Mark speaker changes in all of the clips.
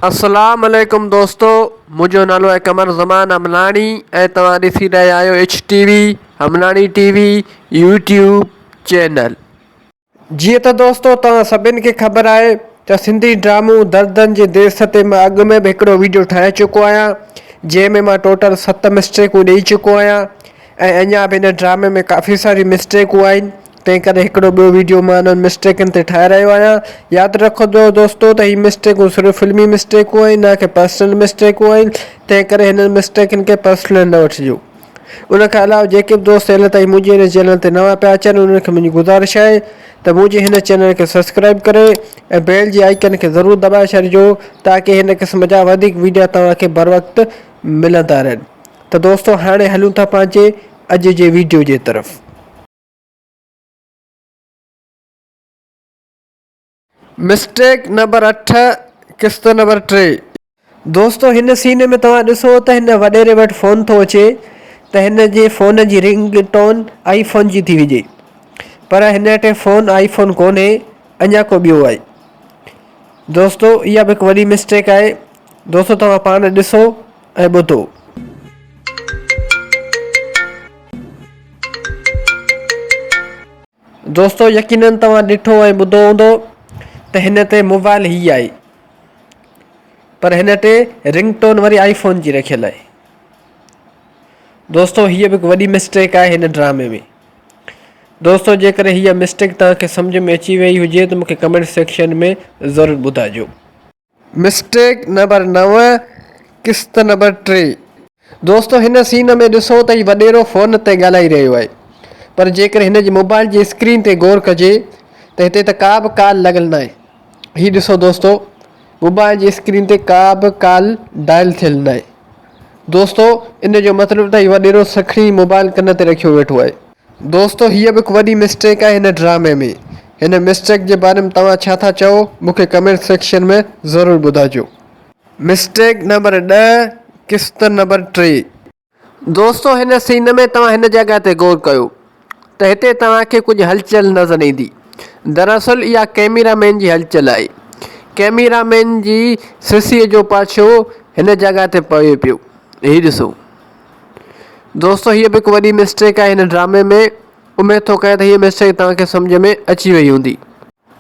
Speaker 1: اسلام عليڪم دوستو منهنجو نالو آهي قمر زمان امناڻي ۽ توهان ڏسي رهيا آهيو H TV Amnani TV YouTube channel. جيئن ته دوستو توهان سڀني کي خبر آهي ته سنڌي ڊرامو دردن جي ديس تي مان اڳ ۾ به هڪڙو ويڊيو ٺاهي چڪو آهيان جنهن ۾ مان ٽوٽل ست مسٽيڪون ڏئي چڪو آهيان ۽ اڃا به هن ڊرامي ۾ ڪافي ساري مسٽيڪون آهن تنهن ڪري هڪڙو ٻيو ويڊيو مان انهن مسٽيڪن تي ٺاهي رهيو آهيان. ياد رکجو دوستو ته هي مسٽيڪون صرف فلمي مسٽيڪون آهن نه ڪي پرسنل مسٽيڪون آهن تنهن ڪري هنن مسٽيڪن کي پرسنل نه وٺجو. ان کان علاوه جيڪي به دوست هيل تائين منهنجي هن چينل تي نوان پيا اچن انهن کي منهنجي گذارش آهي ته منهنجي هن چينل کي سبسڪرائيب ڪري ۽ بيل جي آئيڪن کي ضرور دٻائي ڇڏجو تاڪي هن قسم جا وڌيڪ ويڊيا توهان کي بروقت ملندا رهن ته دوستو هاڻي هلون ٿا پنهنجي اڄ جي ويڊيو جي طرف. مسٽيڪ نمبر اٺ قسط نمبر ٽي. دوستو هن سين ۾ توهان ڏسو ته هن وڏيري وٽ فون ٿو اچي ته هن جي فون جي رنگ ٽون آئي فون جي ٿي هجي پر هن اٽي فون آئي فون ڪونهي اڃا ڪو ٻيو آهي دوستو اها به هڪ وڏي مسٽيڪ آهي دوستو توهان پاڻ ڏسو. ۽ ٻڌو. دوستو يقينن توهان ڏٺو ۽ ٻڌو هوندو ته هن تي موبائل هي آهي پر هن تي رنگ ٽون وري آئي فون جي رکيل آهي دوستو هيء به هڪ وڏي مسٽيڪ آهي هن ڊرامي ۾ دوستو جيڪڏهن هيء مسٽيڪ توهان کي سمجهه ۾ اچي ويئي هجي ته مون کي ڪمينٽ سيڪشن ۾ ضرور ٻڌائجو. مسٽيڪ نمبر نو قسط نمبر ٽي. دوستو هن سين ۾ ڏسو ته هي وڏيرو فون تي ڳالهائي رهيو آهي پر جيڪڏهن هن جي موبائل جي اسڪرين تي غور ڪجي ته هتي ته ڪا به ڪال لڳل ناهي هي ڏسو دوستو موبائل جي اسڪرين تي ڪا به ڪال ڊائل ٿيل ناهي دوستو ان جو مطلب ته هي وڏيرو سکڻي موبائل ڪن تي رکيو ويٺو آهي. دوستو هيء به هڪ وڏي مسٽيڪ آهي هن ڊرامي ۾، هن مسٽيڪ جي باري ۾ توهان ڇا ٿا چئو مون کي ڪمينٽ سيڪشن ۾ ضرور ٻڌائجو. مسٽيڪ نمبر ڏهه قسط نمبر ٽي. دوستو هن سين ۾ توهان هن جڳهه تي غور ڪيو ته هتي توهان کي ڪجهه هلچل نظر ايندي دراصل اها ڪئميرا مين جي هلچل آهي ڪئميرا مين جي سسئي جو پاڇو هن جڳهه تي پوي پيو هي ڏسو. دوستو هيء به هڪ وڏي مسٽيڪ آهي هن ڊرامي ۾ اميد ٿو ڪريان ته هيء مسٽيڪ توهان کي سمجهه ۾ اچي وئي هوندي.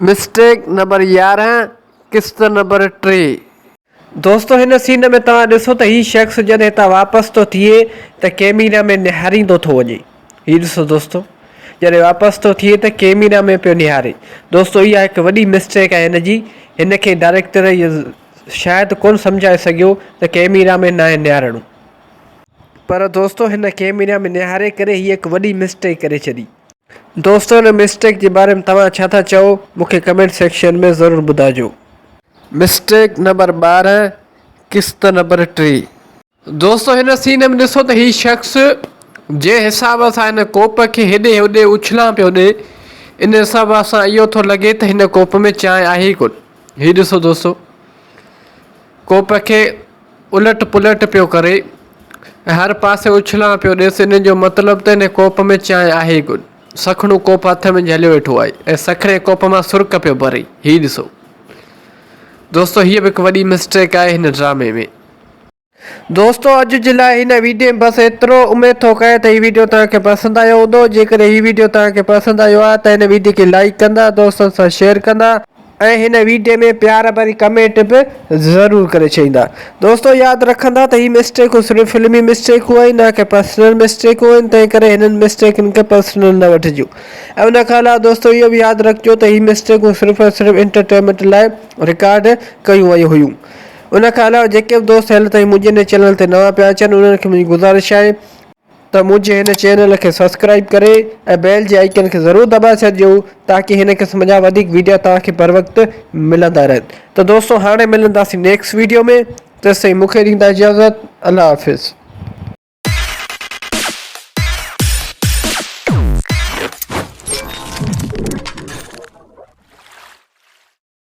Speaker 1: مسٽيڪ نمبر يارهن قسط نمبر ٽي. دوستو هن سين ۾ توهان ڏسو ته هي شخص جڏهن هتان واپس ٿو ٿئي ته ڪيميرا ۾ نهاريندو ٿو وڃي هي ڏسو دوستو جڏهن واپس ٿو ٿئي ته ڪيميرا ۾ پيو نهاري دوستو اها هڪ وڏي مسٽيڪ آهي هن جي هن کي ڊائريڪٽر شايد ڪونه سمجهائي سگهيو ته ڪيميرا ۾ ناهي نهارڻو. پر دوستو هن ڪيميرا ۾ نهاري ڪري هي هڪ وڏي مسٽيڪ ڪري ڇڏي. دوستو هن مسٽيڪ جي باري ۾ توهان ڇا ٿا چئو مون کي ڪمينٽ سيڪشن ۾ ضرور ٻڌاجو. مسٽيڪ نمبر ٻارهن قسط نمبر ٽي. دوستو هن سين ۾ ڏسو ته هي شخص جنهن حساب سان هن ڪوپ کي هيڏي هوڏي اڇلان پيو ڏي ان حساب سان اهو ٿو لڳي ته هن ڪوپ ۾ چانهه آهي ئي ڪونه هي ڏسو دوستو. ڪوپ کي الٽ پلٽ پيو ڪري ۽ هر پاسي اڇلان پيو ڏيس ان جو مطلب ته ان ڪوپ ۾ چانهه آهي ڪونه. سکڻو ڪوپ هٿ ۾ جهليو ويٺو آهي ۽ سکڻي ڪوپ مان سرڪ پيو ڀري. هي ڏسو دوستو هيء به هڪ وڏي مسٽيڪ آهي هن ڊرامي ۾. دوستو اڄ جي لاء هن ويڊيو ۾ بس ايترو. اميد ٿو ڪريان ته هي ويڊيو توهان کي پسند آيو هوندو. جيڪڏهن هي ويڊيو توهان کي پسند آيو آهي ته هن ويڊيو کي لائيڪ ڪندا، دوستن سان شيئر ڪندا. ۽ هن ويڊيو ۾ پيار ڀري ڪمينٽ به ضرور ڪري ڇڏيندا دوستو ياد رکندا ته هي مسٽيڪون صرف فلمي مسٽيڪون آهن نه ڪي پرسنل مسٽيڪون آهن تنهن ڪري هنن مسٽيڪن کي پرسنل نه وٺجو ۽ ان کان علاوه دوستو اهو به ياد رکجو ته هي مسٽيڪون صرف ۽ صرف انٽرٽينمينٽ لاء رڪارڊ ڪيون ويون هيون ان کان علاوه جيڪي به دوست هل تائين منهنجي هن چينل تي نوان پيا اچن انهن کي منهنجي گذارش آهي ته منهنجي هن چينل کي سبسڪرائيب ڪري ۽ بيل جي آئيڪن کي ضرور دٻائي ڇڏجو تاڪي هن قسم جا وڌيڪ ويڊيا توهان کي بروقت ملندا رهن ته دوستو هاڻي ملنداسين نيڪسٽ ويڊيو ۾ تيستائين مون کي ڏيندا اجازت الله حافظ.